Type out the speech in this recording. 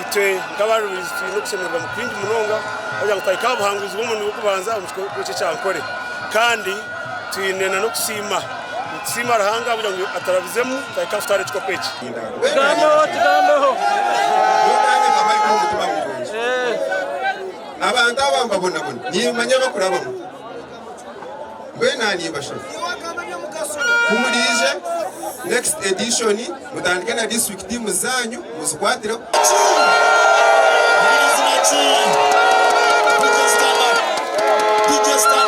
Itwe nk'abarubizi twine okushemererwa kwingi munonga kugira ngu twahika aha buhanguzi bw'omurundi gw'okubanza omu kicweka eki ekya Ankole. Kandi twine n'okusiima. Nitusiima Ruhanga ahabw'okugira ngu aturabizemu twahika aha kutwara ekikopo eki. Tugambeho, tugambeho. Abantu aba mbabonabona, nimmanya abakurabamu. Mbwenu aha nimbashaba ku muraije next edition mutandike na district tiimu zaanyu muzikwatireho.